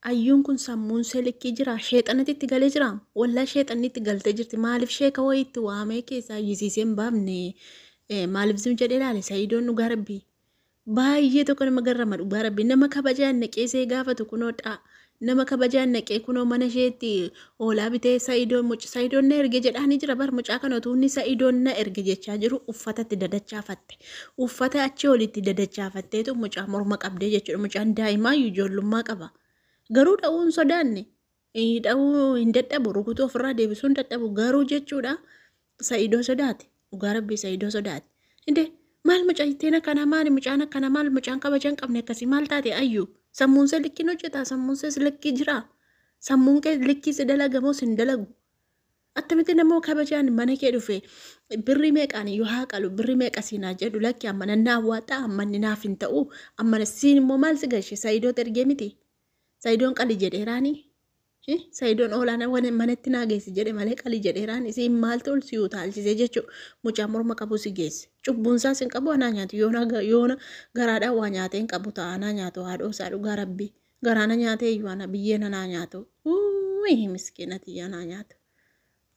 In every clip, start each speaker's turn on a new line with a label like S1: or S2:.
S1: Ayyuun kun sammuun see likkii jiraa sheexanati itti galee jiraa wallahi sheexanni itti galtee jirti maalif sheeka wayii itti waamee keessaa iyyisiisee hin baafne maalif zim jedhee ilaale sa'iidoon dhugaa rabbii baay'ee tokko nama garrama dhugaa rabbii nama kabajaan naqee see gaafatu kunoo dhaa nama kabajaan naqee kunoo mana isheetti Hoolaa bitee sa'idoon muc sa'idoon na erge jedhaanii jira bar mucaa kana utuu inni sa'idoon na erge jechaa jiru uffata itti dadachaafatte uffata achii ol itti dadachaafatteetu mucaa morma qabdee jechuudha mucaan daa'imaa iyyuu ijoollummaa qaba garuu dha'uu hin sodaanne ii, dha'uu hin dadhabu rukutuu ofirraa deebisuu hin dadhabu garuu jechuudha Sa'idoo sodaate dhugaa rabbii sa'idoo sodaate inde maal mucayitteen akkana maali mucaan akkana maal mucaan kabajan qabne akkasii maal taate ayyu sammuun see likkiin hojjetaa sammuun sees likkii jiraa sammuun kee likkii si dalagamoo sin dalagu attamitti namoo kabajaan mana kee dhufe birrii meeqaan yoo haa qalu birrii meeqa siinaa jedhu lakki amma nannaa awwaadhaa amma inni naaf hin ta'u amma siin immoo maal si gashe sa'idoo ergee miti sa'idoon qali jedheeraanii Sayidoon oolaana wan manatti naa geessi jedhe malee qali jedheeraan isiin maaltu ol si utaalchise jechuu mucaa morma qabu si geesse cubbuun isaas hin qabu anaa nyaatu yoona yoona garaadhaa waa nyaatee hin qabu ta'a anaa nyaatu haadhoo isaa dhugaa rabbii garaana nyaatee iyyuu ana biyyeen anaa nyaatu uuyi miskiinati anaa nyaatu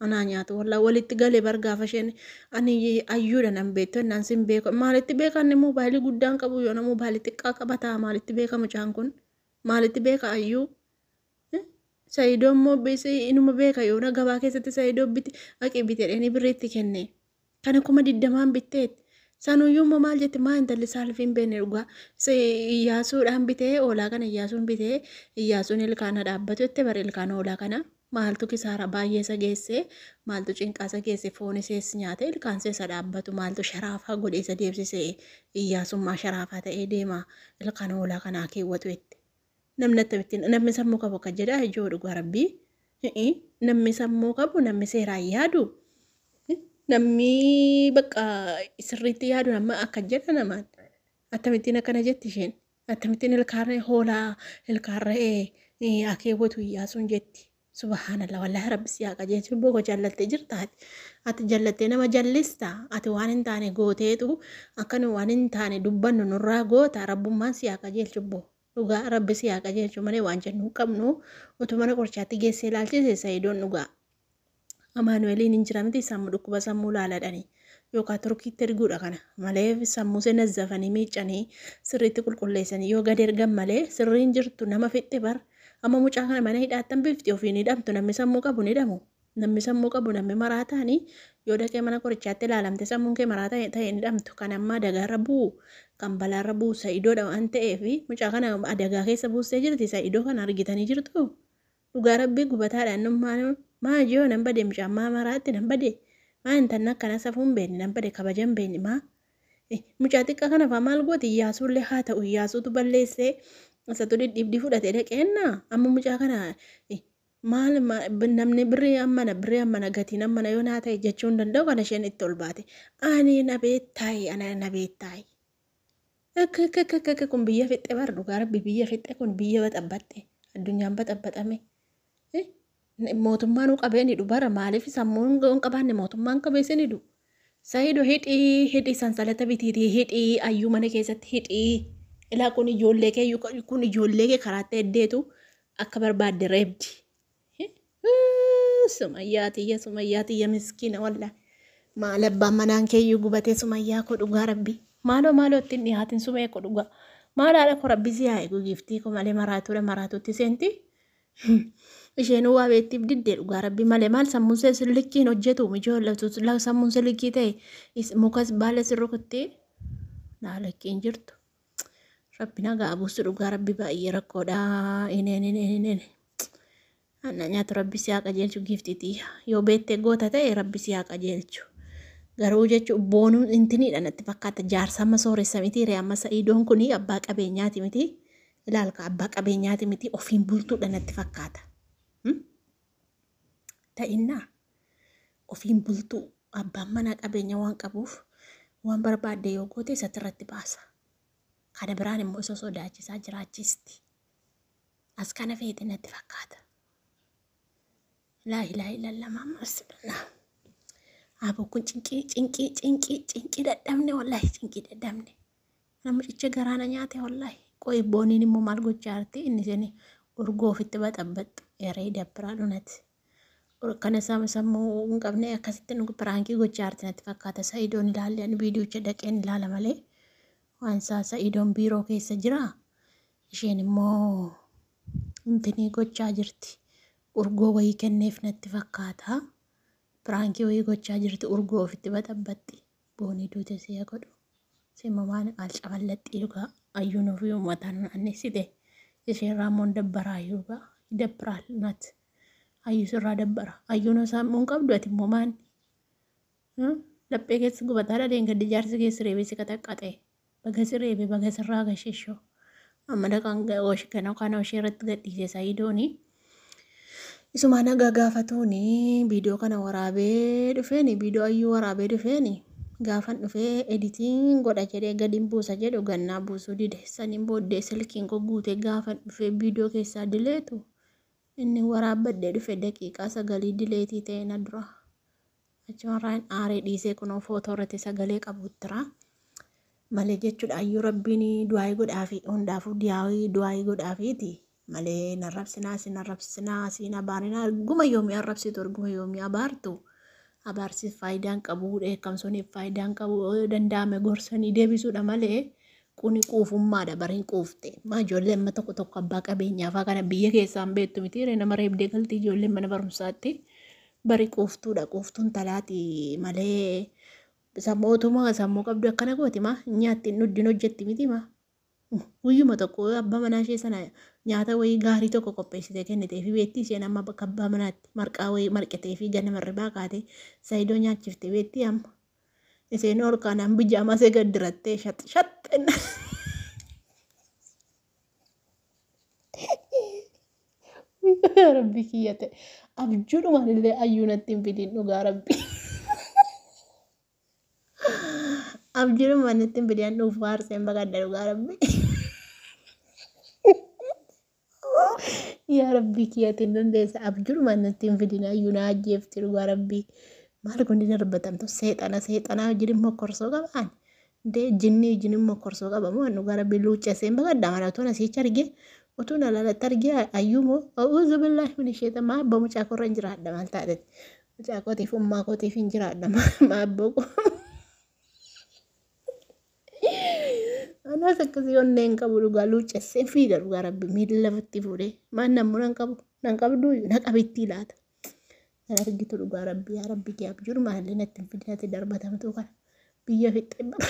S1: anaa nyaatu wallaa walitti galee bar gaafa isheen ani ayyuudha nan beektu innaan sin beeku maalitti beeka inni moobaayilii guddaan qabu yoona moobaayilii xiqqaa qaba ta'a maalitti beeka mucaan kun maalitti beeka ayyuu Saidoo immoo inuma beeka yoona gabaa keessatti saidoo biti haqi bite dheenii birrii itti kenne. Kana kuma digdamaan bitteet. Sanuyyuu immoo maal jette maa intalli saalfii hin beekne dhugaa. Iyyaasuudhaan bitee hoolaa kana iyyaasuun bitee iyyaasuun ilkaana dhaabbatu jette bara ilkaana hoolaa kana. Maaltu kisaara baay'ee isa geesse maaltu cinqaa isa geesse foon isees nyaate ilkaan isa dhaabbatu maaltu sharaafaa godhee isa deebsise iyyaasummaa sharaafaa ta'ee deema ilkaan hoolaa kanaa keewwatu jette. Namni attamittiin namni sammuu qabu akka jedha ijoo dhugaa rabbii Hi'i, namni sammuu qabu namni seeraan yaadu namni bakka sirriitti yaadu nama akka jedha namaan attamittiin akkana jetti isheen attamittiin ilkaan hoolaa ilkaan re'ee eh, akeewwatu iyyaasuun jetti Subahanallah wallahi rabbi si haa qajeelchu lubbuu koo jallatte jirta ati ati jallatte nama jallista ati waan hin taane gooteetu akka nu waan hin taane dubbannu nurraa goota rabbummaan si haa qajeelchu bbo dhugaa rabbi si haa qajeelchu malee waan jennu hin qabnu utuu mana qorichaatti geessee ilaalchise sayidoon dhugaa Amaanu'eliin hin jira miti sammu dhukkuba sammuu laaladhani yookaan turkiitti erguudha kana malee sammuu see nazzafanii miiccanii sirriitti qulqulleessanii yoo gad ergan malee sirriin jirtu nama fixxi bar amma mucaa kana mana hidhaattan bifti ofiin hidhamtu namni sammuu qabu ni hidhamu namni sammuu qabu namni maraa ta'anii yoo dhaqee mana qorichaatti ilaalamte sammuun kee maraa ta'e ta'e ni hidhamtu kan amma adagaarra bu'u kan balaarra bu'u sa'idoodha waan ta'eef mucaa kana adagaa keessa buustee jirti sa'idoo kana argitanii jirtu Dhugaa rabbii gubataadha annu maal maal yoo nan bade mucaan maa maraatti nan bade maa intalli akkana safuu hin beekne nan bade kabaja hin beekne maa Eh, mucaa xiqqaa kana faa maal gooti iyyaasuu illee haa ta'u iyyaasuutu balleessee isatu dhidhiibdii fudhatee dhaqeenna amma mucaa kana eh, maal ma- b- namni birrii ammana birrii ammana gatiin ammana yoo naa ta'e jechuu hin danda'u kana isheen itti ol baate ani na beettaayi ana na beettaayi Akkakakakaka kun biyya fixxe bar dhugaa rabbi biyya fixxe kun biyya baxabbaxxe addunyaan baxabbaxame mootummaan qabeen hidhu bara maaliif sammuun hin qabaanne mootummaan qabeessin hidhu sayido hidhii hidhii sansalata bitiitii hidhii ayyuu mana keessatti hidhii ilaa kun ijoollee kee kun ijoollee kee karaattee eddeetu akka barbaadde reebdi Sumayyaa tiyya sumayyaa tiyya miskiina walla. Maal abbaan manaan keeyyuu gubatee sumayyaa koo dhugaa rabbi. Maaloo maaloo ittiin dhihaatin sumee koo dhugaa. Maal haadha koo rabbi si haa eegu giiftii koo malee maraatuudha maraatuutti seenti. Isheenuu waa beektiif diddee dhugaa rabbi malee maal sammuun see sillikkiin hojjetu mijoo sammuun sillikkii ta'e mukas baala sirrukutti laalakkiin jirtu. Rabbi nagaa abuusu dhugaa rabbi baay'ee rakkoodha. Ineen ineen ineen. Anna nyaatu rabbi si haa qajeelchu giiftiiti. Yoo beettee goota ta'e rabbi si haa qajeelchu. Garuu jechuun boonuun intiniidha natti fakkaata jaarsa amma sooressa miti ree amma sa'iidoon kun abbaa qabeenyaati miti. Ilaalka abbaa qabeenyaati miti ofiin bultuudha natti fakkaata. Ta'innaa. ofiin bultuu abbaan manaa qabeenya waan qabuuf waan barbaadde yoo goote isatti irratti baasa. Kana biraan immoo isa sodaachisaa jiraachisti. As kana feete natti fakkaata. Laa ilaa ilalla maamma rasulullah. Aboo kun cinqii cinqii cinqii cinqii dadhabne wallaahi cinqii dadhabne. Namicha garaana nyaate wallaahi. Qoy booniin immoo maal gochaa jirti inni seni urgoo ofitti baxabbaxxu eree dabbiraa dhunati. Kana sama sammuu hin qabne akkasitti nu piraankii gochaa jirti natti fakkaata. Sa'idoon ilaalle ani viidiyocha dhaqeen ilaala malee waan isaa sa'idoon biiroo keessa jira. Isheen immoo intinii gochaa jirti. Urgoo wayii kenneef natti fakkaata. Piraankii wayii gochaa jirti urgoo ofitti baxabbaxxi. Boonii duute si'a godhu. Simmamaan alcaballaxxii dhugaa ayyuun ofii uummataan naannessite. Isheerraa immoo dabbaraa dhugaa. Dabbiraal natti. Ayyuu sirraa dabbara. Ayyuun osoo hammuu hin qabdu ati immoo maanni. Laphee keessa gubataa dhaleen gaddi jaarsi keessa reebee si qaxaqqaxee. Baga si reebee baga sirraa gashishoo. Amma dhaqaan gana kana ishee irratti gadhiisee saayidooni. Isumaa nagaa gaafatuuni viidiyoo kana waraabee dhufeeni viidiyoo ayyuu waraabee dhufeeni. Gaafan dhufee editiin godha jedhee gadiin buusa jedhu gannaa buusuu dide. Saniin booddee silkiin koo guutee gaafan dhufee viidiyoo keessaa dileetu. Inni waraabbadhee dhufe daqiiqaa sagalii dileetii ta'e na dura. Achumarraan aaree dhiisee kunoo footoo irratti sagalee qabuttira. Malee jechuudha ayyuu rabbiin du'aayii godhaafi hundaafuu diyaawii du'aayii godhaafiiti. Malee hin arrabsinaa isin arrabsisinaa siin abaarinaa erguma yoomii arrabsitu erguma yoomii abaartu. Abaarsiif faayidaan qabu dheekkamsuuniif faayidaan qabu yoo danda'ame gorsanii deebisuudha malee Kuni quufummaadha bar hin quufte. Maa ijoollee amma tokko tokko abbaa qabeenyaafaa kana biyya keessaan beektu miti ree nama reebdee galti ijoolleen mana barumsaatti. Bari quuftuudha quuftuun talaati malee isa mootummaa sammuu qabdu akkana gooti maa nyaatti hin dhuddin hojjetti miti maa. Guyyuma tokko abbaa manaa ishee sana nyaata wayii gaarii tokko qopheessitee kennitee fi beektii isheen amma bakka abbaa manaatti marqaa wayii marqitee fi ganama irribaa kaatee saayidoo nyaachiftee beektii amma. Iseen ol kaanaan bijaamaa see gad dirattee shax shax jenna. Rabbi kiyya ta'e abjuudhumaan illee ayyuu natti hin fidiin dhugaa rabbi. Abjuudhumaan natti hin fidiin dhuufuu haarseen baqadha dhugaa rabbi. Yaa rabbii kiyya ati hin dandeessa abjuudhumaan natti hin fidin ayyuu na ajjeefti dhugaa rabbii maal kun ni darbatamtu seexana seexanaa wajjin immoo korsoo qabaan dee jinnii wajjin immoo korsoo qaba moo dhugaa rabbii luuccesseen baqadha mana utuun asiicha argee utuun alaalatti argee ayyuu moo a'uuzu billaahi min isheeta maa abbaa mucaa korra hin jiraadha maal taateeti mucaa kootiif ummaa kootiif hin jiraadha maa abbaa koo Anas akkasii onnee hin qabu dhugaa luuccessee fiiga dhugaa rabbi miila lafatti fuudhee maan namuu nan qabu nan qabdu na qabittii laata. Kan argitu dhugaa rabbi yaa rabbi kee abjuun maallee natti hin fidinatti darbatamtuu kana biyya fixxee bara.